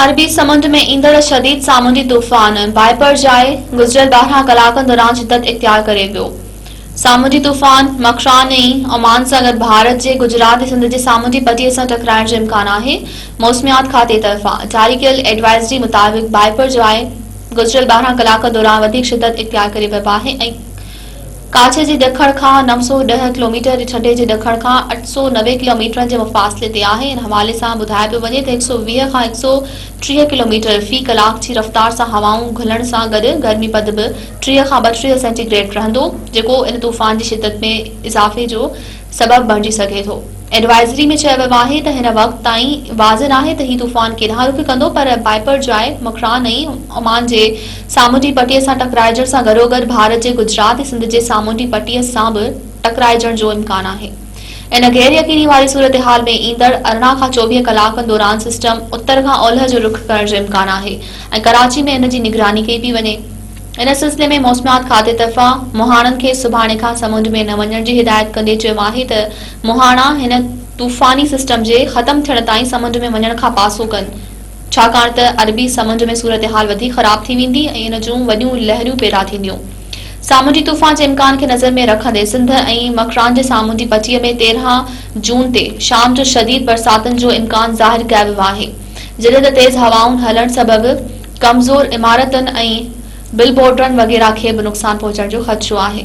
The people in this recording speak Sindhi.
عربي سمنڊ ۾ ايندڙ شديد سامونڊي طوفان بائيپرجائي گذريل 12 ڪلاڪن دوران شدت اختيار ڪري ويو سامونڊي طوفان مڪران ۽ عمان سان گڏ ڀارت جي گجرات ۽ سنڌ جي سامونڊي پٽي سان ٽڪرائڻ جو امڪان آهي موسميات کاتي طرفان جاري ڪيل ايڊوائزري مطابق بائيپرجائي گذريل 12 ڪلاڪن دوران وڌيڪ شدت اختيار ڪري ويو آهي ۽ ڪاڇي جي ڏکڻ کان 910 ڪلوميٽر ۽ ٺٽي جي ڏکڻ کان 890 ڪلوميٽرن جي مفاصلي تي آهي ان حوالي سان ٻڌايو پيو وڃي ته 120 کان 130 ڪلوميٽر في ڪلاڪ جي رفتار سان هوائون گهلڻ سان گڏ گرمي پد به 30 کان 32 سينٽي گريڊ رهندو جيڪو ان طوفان جي شدت ۾ اضافي جو سبب بڻجي سگهي ٿو. ايڊوائزري ۾ چيو ويو آهي ته هن وقت تائين واضح ناهي ته هي طوفان ڪيڏانهن رخ ڪندو پر بائپر جاء مڪران ۽ عمان جي سامونڊي پٽي سان ٽڪرائجڻ سان گڏوگڏ ڀارت جي گجرات ۽ سنڌ جي سامونڊي پٽي سان به ٽڪرائجڻ جو امڪان آهي ان غير يقيني واري صورتحال ۾ ايندڙ ارڙهن کان چوويهه ڪلاڪن دوران سسٽم اتر کان اولهه جو رخ ڪرڻ جو امڪان آهي ۽ ڪراچي ۾ ان جي نگراني ڪئي پئي وڃي. ان سلسلي ۾ موسميات کاتي طرفان مهاڻن کي سڀاڻي کان سمنڊ ۾ نه وڃڻ جي هدايت ڪندي چيو آهي ته مهاڻا هن طوفاني سسٽم جي ختم ٿيڻ تائين سمنڊ ۾ وڃڻ کان پاسو ڪن ڇاڪاڻ ته عربي سمنڊ ۾ صورتحال وڌيڪ خراب ٿي ويندي ۽ ان جون وڏيون لهريون پيدا ٿينديون سامونڊي طوفان جي امڪان کي نظر ۾ رکندي سنڌ ۽ مڪران جي سامونڊي پٽي ۾ تيرهن جون تي شام جو شديد برساتن جو امڪان ظاهر ڪياويوآهي جڏهن ته تيز هوائن هلڻ سبب ڪمزور عمارتن ۽ بل بورڊرن وغيره کي به نقصان پهچڻ جو خدشو آهي.